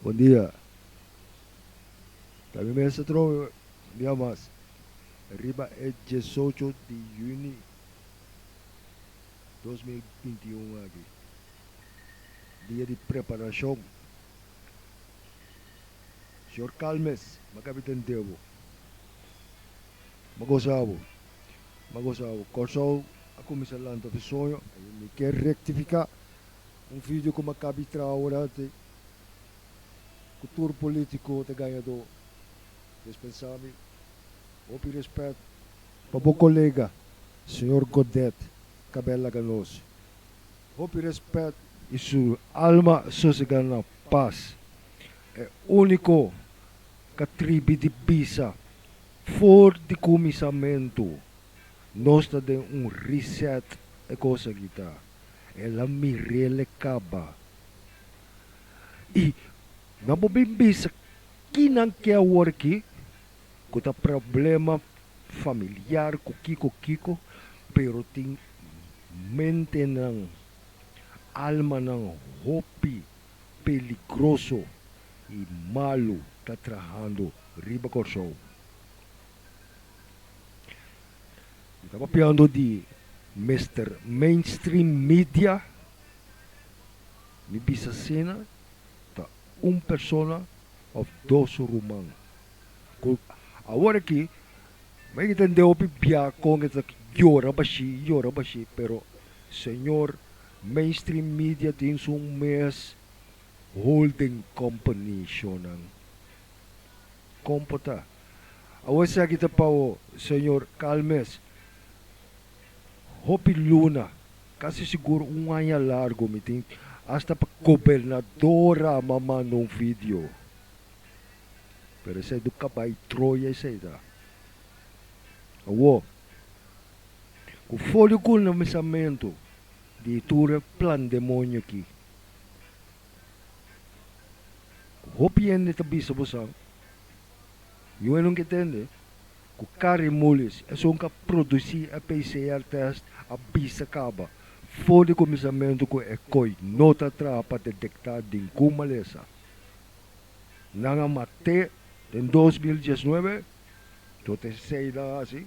Bon dia. Ta mi mester trowe un dia mas riba e diesocho di juni dos mil binti i un aki, dia di preparashon. Señor Calmes, mi a kabi tende bo. Mi a gosa bo. M'a gosa awa. Kòrsou a kuminsá lanta ofi soño. Mi ke rektifiká, un video ku m'a kabi traha awor-hanti, ku tur polítiko ta gañadó. Pues pensá mi, hopi rèspèt pa bo kolega señor Godet kab'é laga nos. Hopi rèspèt. I su alma sosegá na pas. E úniko k'atribi di bisa For di kuminsamentu nos ta den un reset e kos aki ta el a mirele kaba y nan por bin bisa ki nan ke awor aki ku ta problema familiar ku kiko kiko pero tin mente nan alma nan hopi. peligroso y malo ta trahando riba Kòrsou. Mi ta papiando di Mister Mainstream Media, mi bisa asina ta un persona of dos ruman. Ku awor aki mi a tende hopi bia kon e ta yora bashí, yora bashí pero Señor Mainstream media tin su mes holding company shonan. Kon por ta? Awor esaki aki ta pa bo, señor Calmes. Hopi luna, casi sigur un aña largo mi tin hasta pa gobernadora a m'a manda un video. Pero esei do cabai troya esei ta. Awor. ku folio ku na misamentu di tur e plan demonio aki. Ku hopi hende ta bisa bosan, yu enun ke tende ku kari mulis esun ka produsí e PCR test a bisa kaba folio ku misamentu ku e koi no ta traha pa detektá den ku malesa nan a mat'é den dos mil diesnuebe, tot e seida hasi.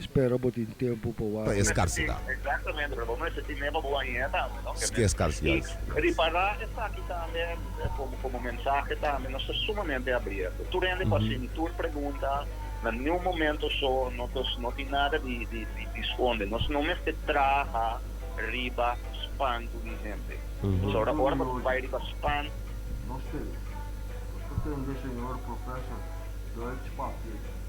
Spera bo tin tempu pa wak. Pa e skarsidad. Exactamente, pero bo mester tin meba bo aña tambe, no? Ske e skarsidad? Y ripará esaki tambe, como, como mensahe tambe, nos ta sumamente abierto. Tur hende cu a haci tur pregunta, na niun momento so, no ta, no tin nada di, di, di sconde. Nos no mester traha riba spantu di hende. Pasobra ora cu bo bay riba spantu. Nos te, nos ta tende, Señor, Professor Deutsch Papier.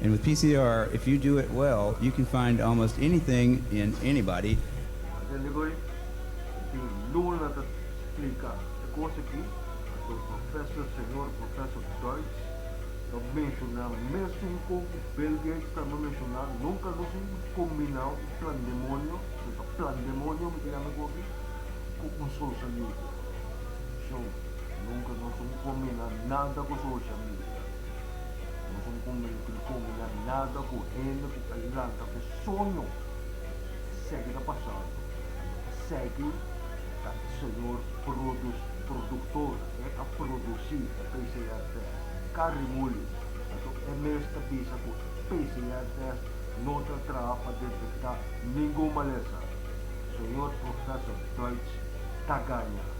And with PCR, if you do it well, you can find almost anything in anybody. A den di hoy, e tin luna ta splica e cos aki, pasobra Professor Señor Professor Deutsch ta menciona mesun con Bill Gates tambe menciona, nunca nos un combina un plan demonio, nos ta plan demonio mi ta yama e cos aki, cu un social media. Atención, nunca nos un combina nada cu social media. Nos un comenti di como no hay nada cu hende cu a lanta fe soño y segui ta pasando y no ta segui ta e Señor produs productor e a produci e PCR test carry muli anto e mes ta bisa cu e PCR test no ta traha pa detecta ningun malesa Señor Professor Deutsch ta gaña.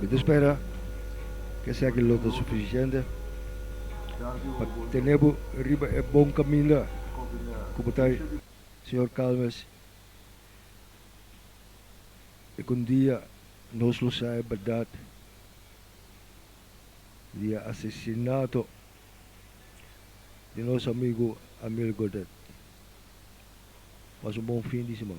Mi ta spera ku esaki lo ta sufisiente pa tene bo riba e bon kaminda ku bo ta, señor Calmes. I ku un dia nos lo sa e bèrdat di e asesinato di nos amigu Amil Godet. Pasa un bon fin di siman.